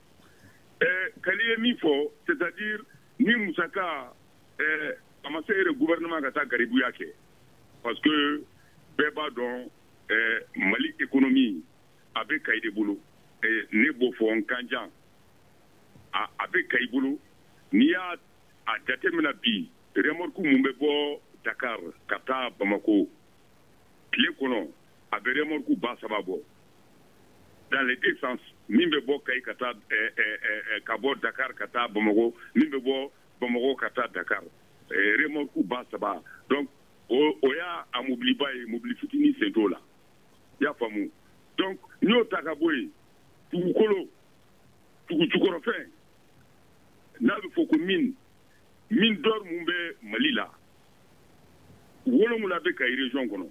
eh, kali ye min fɔ c'est à dire ni musaka eh, a ma se yɛrɛ gouvernement ka taa garibuya kɛ parce que bɛɛ b'a dɔn eh, mali économie a bɛ kayi de bolo eh, ne b'o fɔ n kan jan a, a bɛ kayi bolo n'i y'a a jatemina bi remorque mun bɛ bɔ dakar ka taa bamako tile kɔnɔ a bɛ remorque ba saba bɔ dans les deux sens min bɛ bɔ kayi ka taa eh, eh, eh, ka bɔ dakar ka taa bamako min bɛ bɔ bamako ka taa dakar remorque ba saba donc o y'a a mobiliba ye mobili fitini sen t'o la i y'a faamu donc n'i y'o ta ka bɔ yen dugukolo dugujukɔrɔfɛn n'a bɛ fɔ ko mine mine d'or mun bɛ mali la wolonwula bɛ kayi region kɔnɔ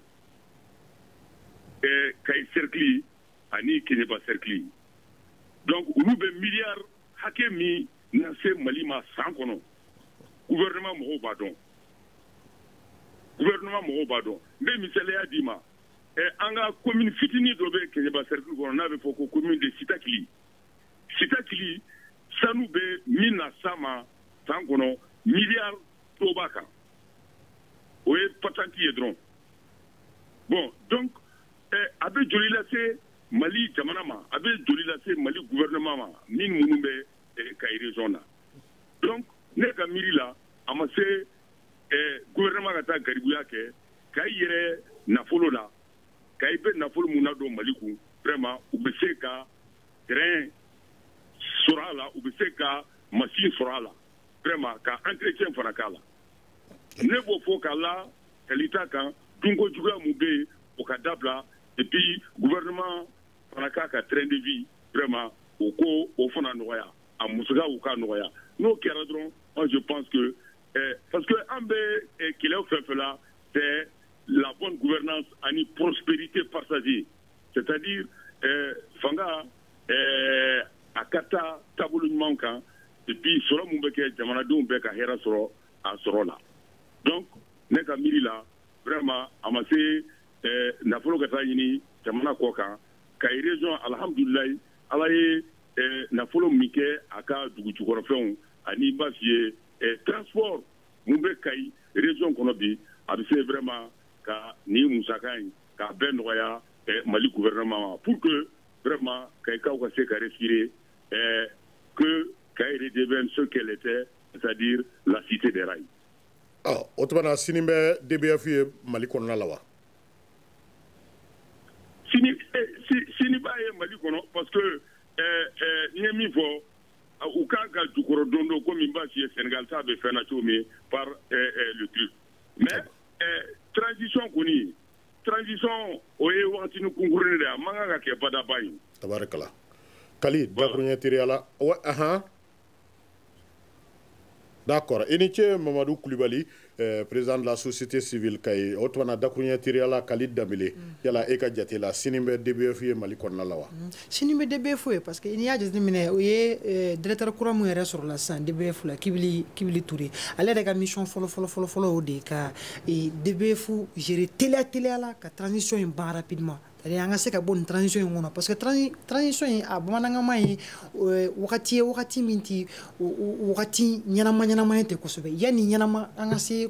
ɛɛ kayi cercle ani keɲeba cercle donc olu bɛ miliyari hakɛ min na se mali ma san kɔnɔ gouvernement mɔgɔw b'a dɔn gouvernement mɔgɔw b'a dɔn n bɛ misaliya d'i ma ɛɛ an ka commune fitinin dɔ bɛ keɲeba cercle kɔnɔ n'a bɛ fɔ ko commune de sitakili sitakili sanu bɛ min na s'a ma san kɔnɔ miliyari dɔ b'a kan o ye patenti ye dɔrɔn bon donc eh, a bɛ joli lase mali jamana ma a bɛ joli lase mali gouvernement ma min minnu bɛ eh, kayi région na donc ne ka miiri la a ma se eh, gouvernement ka taa garibuya kɛ kayi yɛrɛ nafolo la kayi bɛ nafolo mun na don mali kun vraiment u bɛ se ka train sɔrɔ a la u bɛ se ka machine sɔrɔ a la vraiment ka entretien fana k'a la ne b'o fɔ ka la kali ta kan dunko juguya mun bɛ yen o ka dabila et puis gouvernement fana k'a ka train de vie vraiment o ko o fana nɔgɔya a musakaw ka nɔgɔya n'o kɛra dɔrɔn moi je pense que eh, parce que an bɛ eh, kɛlɛw fɛn fɛn la c'est la bonne gouvernance ani prospérité partagée c'est à dire eh, fanga eh, a ka taa taabolo ɲuman kan et puis sɔrɔ mun bɛ kɛ jamanadenw bɛɛ ka hɛrɛ sɔrɔ a sɔrɔ la donc ne ka miiri la vraiment a ma se eh, nafolo ka taa ɲini jamana kɔ kan kayi région alhamdulilayi ala ye nafolo min kɛ a ka dugujukɔrɔfɛnw ani b'a f'i ye eh, transport mun bɛ kayi région kɔnɔ bi a bɛ se vraiment ka nin musaka in k'a bɛɛ nɔgɔya eh, mali gouvernement ma pour que vraiment kayikaw ka se ka respirer eh, que kayi redevienne ce qu'elle était c'est à dire la cité des rails ah, o tumana sini bɛ dbf ye mali kɔnɔna la wa sini eh, sini b'a ye mali kɔnɔ parce que eh, eh, n ye min fɔ u kan ka jukɔrɔ don don komi n b'a f'i ye senegal ta bɛ fɛn na cogo min par eh, eh, le truc mais transition kɔni transition o ye wagatini kunkuruni de ye a man kan ka kɛ badaba ye tabarikala kali dakuruɲɛ teriya la wa ahan d'accord i ni ce mamadu kulibali eh, président de la société civile kayi o tumana dakuruɲɛ teriya la kali danbele mm. yala e ka jate la sini bɛ dbf ye mali kɔnɔna la wa mm. sini bɛ dbf ye parce que n'i y'a jate minɛ o ye eh, directeur kura mun yɛrɛ sɔrɔla sisan dbf la kibili kibili ture ale yɛrɛ ka mission fɔlɔ fɔlɔ fɔlɔ fɔlɔ o de ka eh, dbf gérer teliya teliya la ka transition in ban rapidement c'est-à-dire an ka se ka bɔ nin transition in kɔnɔ parce que transition in a bamanankanma ye eh, wagati ye wagati min ti wagati ɲɛnama ɲɛnama ye ten kosɛbɛ yanni ɲɛnama an ka se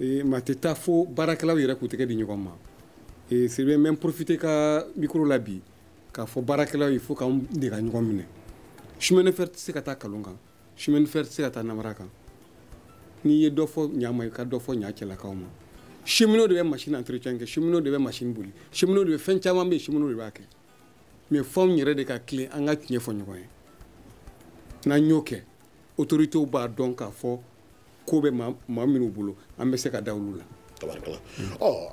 e, ma tɛ taa fo baarakɛlaw yɛrɛ k'u tɛgɛ di ɲɔgɔn ma e, c'est bien même profiter ka micro la bi k'a fɔ baarakɛlaw ye il faut k'an de ka ɲɔgɔn minɛ chemin de fer tɛ se ka taa kalon kan chemin de fer tɛ se ka taa namara kan n'i ye dɔ fɔ ɲa ma i ka dɔ fɔ ɲa cɛlakaw ma cheminot de bɛ machine entretien kɛ cheminot de bɛ machine boli cheminot de bɛ fɛn caman bɛ yen cheminot de b'a kɛ mais f'anw yɛrɛ de ka tilen an ka tiɲɛ fɔ ɲɔgɔn ye n'an y'o kɛ autorités b'a dɔn k'a fɔ ko bɛ maa minnu bolo an bɛ se ka da olu la tabarikala ɔ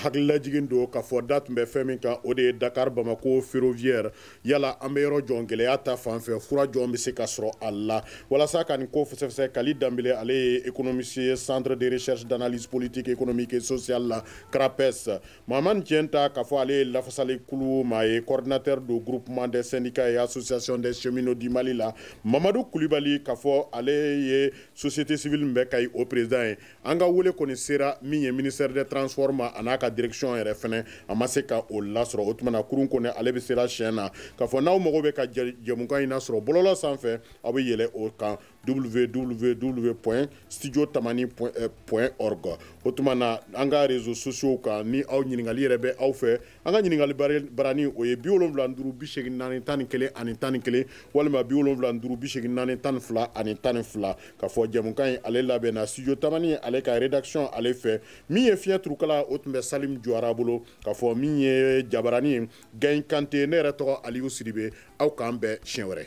hakililajigin don k'a fɔ da tun bɛ fɛn min kan o de ye dakar bamako ferroviaire yala an bɛ yɔrɔ jɔn gɛlɛya ta fan fɛ fura jɔn bɛ se ka sɔrɔ a la walasa ka nin ko fɛsɛfɛsɛ kali danbele ale ye économiste ye centre de recherche d'analyse politique économique et sociale la crapes Mahamane Tienta k'a fɔ ale ye lafasali kulu maa ye coordinateur don groupement des syndicats et associations des cheminots du Mali la Mamadou Kulibali k'a fɔ ale ye société civile min bɛ Kayi o président ye an ka wele kɔni sera min ye ministère des transports ma a n'a ka direction yɛrɛ fɛnɛ a ma se ka o lasɔrɔ o tuma na kurun kɔni ale bɛ sera siɲɛ na k'a fɔ n'aw mago bɛ ka jɛmukan in lasɔrɔ bɔlɔlɔ sanfɛ aw bɛ yɛlɛ o kan www point studio tamani point eh, org o tuma na an ka réseaux sociaux kan ni aw ɲininkali yɛrɛ bɛ aw fɛ an ka ɲininkali barani o ye bi wolonwula ni duuru bi seegin naani tan ni kelen ani tan ni kelen walima bi wolonwula ni duuru bi seegin naani tan ni fila ani tan ni fila k'a fɔ jɛmukan in ale labɛnna studio tamani ale ka rédaction ale fɛ min ye fiɲɛ turukala o tun bɛ salim jawara bolo k'a fɔ min ye jabarani ye gayi kante ne yɛrɛ tɔgɔ aliyu sidibe aw k'an bɛn siɲɛ wɛrɛ